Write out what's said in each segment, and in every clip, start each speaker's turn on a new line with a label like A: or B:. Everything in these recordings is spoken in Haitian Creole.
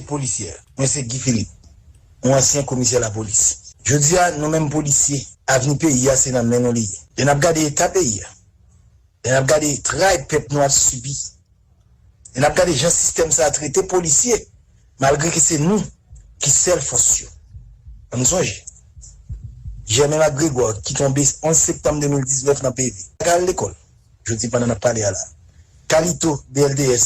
A: Polisyè. Mwen se Guy Philippe, yon ansyen komisè lapolis. Jodi a, nou menm polisye, avni peyi a se nan men nou li ye. Lè n ap gade eta peyi a, lè n ap gade tray pèp nou ap sibi, lè n ap gade jan sistèm sa a trete polisye, malgre ke se nou ki sèl fòs yo. An nou sonje, Jèmen Mak Gregwa ki tonbe 11 septanm 2019 nan PV, pa ka al lekòl, jodi pandan n ap pale a la, Kalito, BLDS,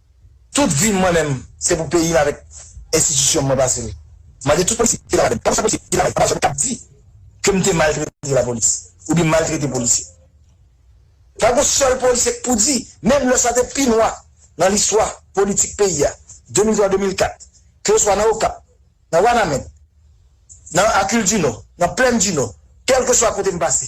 A: Tout vim mwen menm se pou peyim avèk enstitisyonm mwen pasel. Mande tout polisye ki ladann, pa konsa polisye ki lamèd pa janm kab di kem te maltrete lapolis oubyen maltrete polisye. Pa gon sèl polisye k pou di, menm lè sa te pi nwa nan listwa politik peyi a 2003 2004 ke oswa nan Okap, nan Wanament, nan Akildinò, nan Plèndinò, kèlkeswa kotem pase.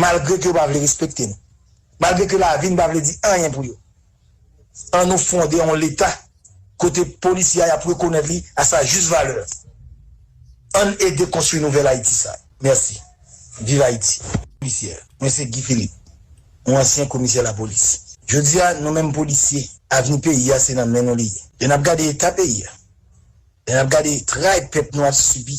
A: Malgre ke yo pa vle respekte nou. Malgre ke lavi nou pa vle di anyen pou yo. An nou fonde yon leta kote polisye a yap rekonèt li a sa jis valè. Ann ede konstwi nouvèl Ayiti sa. Mèsi. Viv Ayiti. Polisye. Mwen se Guy Philippe. Yon ansyen komisè lapolis. Jodi a, nou menm polisye, avni peyi a se nan men nou li ye. Lè nap gade eta peyi a. Lè nap gade tray pèp nou ap sibi.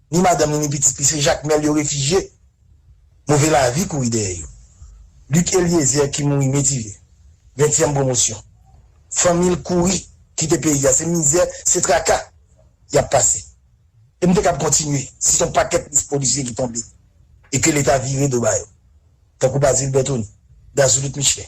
A: ni madanm li ni pitit li se Jakmèl yo refijye. Move lavi kouri dèyè yo. Luc Eliezer ki mouri Metivye, ventyèm pwomosyon. Fanmi l kouri kite peyi a, se mizè, se traka y ap pase. E m te kab kontinye si se yon pakèt mis polisye ki tonbe e ke Leta vire do ba yo, tankou Bazil Bertony, Gazoulout Michelin.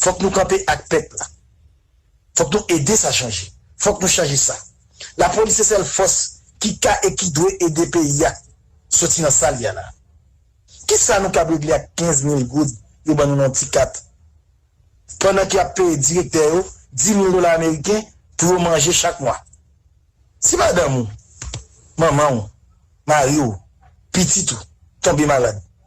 A: Fok nou kanpe ak pep la. Fok nou ede sa chanje. Fok nou chanje sa. La polis se sel fos ki ka e ki dwe ede peyi a soti nan sa li a la. Ki sa nou kab regle ak 15 mil goud yo ban nou nan yon ti kat pandan ke yap peye direktè yo 10 mil dola ameriken pou yo manje chak mwa. Si madanm ou, manman ou, mari ou, pitit ou tonbe malad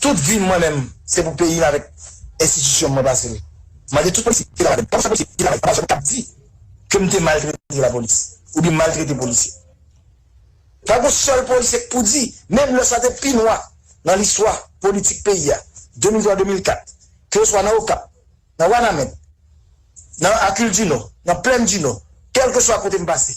A: Tout vim mwen menm se pou peyim avèk enstitisyon mwen pasel. Mande tout polisye ki travay pou sa polisye ki travay anba zòd kap di kem te maltrete lapolis oubyen maltrete polisye. Pa gon sèl polisye k pou di menm lè sa te pi nwa nan listwa politik peyi a 2003 2004 ke oswa nan okap, nan wanament, nan akildinò, nan plèn dinò kelkeswa kotem pase.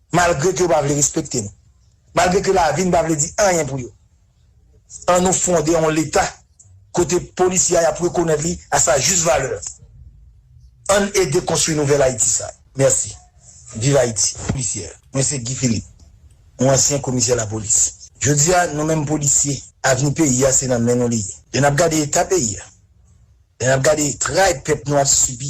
A: Malgre ke yo pa vle respekte nou. Malgre ke lavi nou pa vle di anyen pou yo. An nou fonde yon leta kote polisye a yap rekonèt li a sa jis valè. Ann ede konstwi nouvèl Ayiti sa. Mèsi. Viv Ayiti. Polisye. Mwen se Guy Philippe. Yon ansyen komisè lapolis. Jodi a, nou menm polisye, avni peyi a se nan men nou li ye. Lè nap gade eta peyi a, lè nap gade tray pèp nou ap sibi,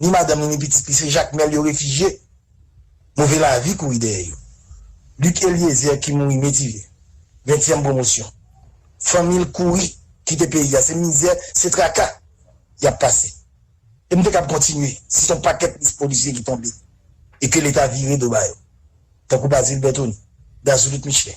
A: ni madanm li ni pitit li se Jakmèl yo refijye. Move lavi kouri dèyè yo. Luc Eliezer ki mouri Metivye, ventyèm pwomosyon. Fanmi l kouri kite peyi a, se mizè, se traka y ap pase. E m te kab kontinye si se yon pakèt mis polisye ki tonbe e ke Leta vire do ba yo, tankou Bazil Bertony, Dazoulit Michelin.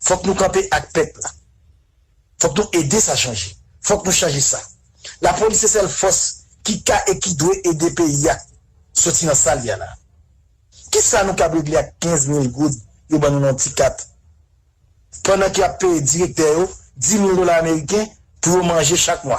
A: Fok nou kanpe ak pep la. Fok nou ede sa chanje. Fok nou chanje sa. La polis se sel fos ki ka e ki dwe ede peyi a soti nan sa li a la. Ki sa nou kab regle ak 15 mil goud yo ban nou nan yon ti kat pandan ke yap peye direktè yo 10 mil dola ameriken pou yo manje chak mwa.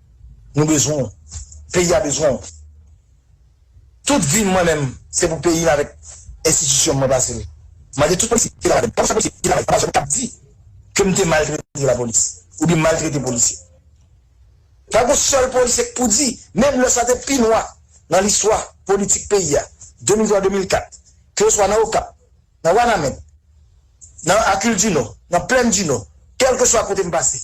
A: Nou bezwen w. Peyi a bezwen w. Tout vi m mwen menm se pou peyi m avèk enstitisyon m mwen pase l. Mande tout polisye ki travay avè m. Pafwa se polisye ki travay anba zòn k ap di ke m te maltrete lapolis oubyen m maltrete polisye. Pa gen yon sèl polisye k pou di, menm lè sa te pi nwa nan listwa politik peyi a, 2003, 2004, ke oswa nan Okap, nan Wanament, nan Akildinò, nan Plèndinò, kèlkeswa kote m pase.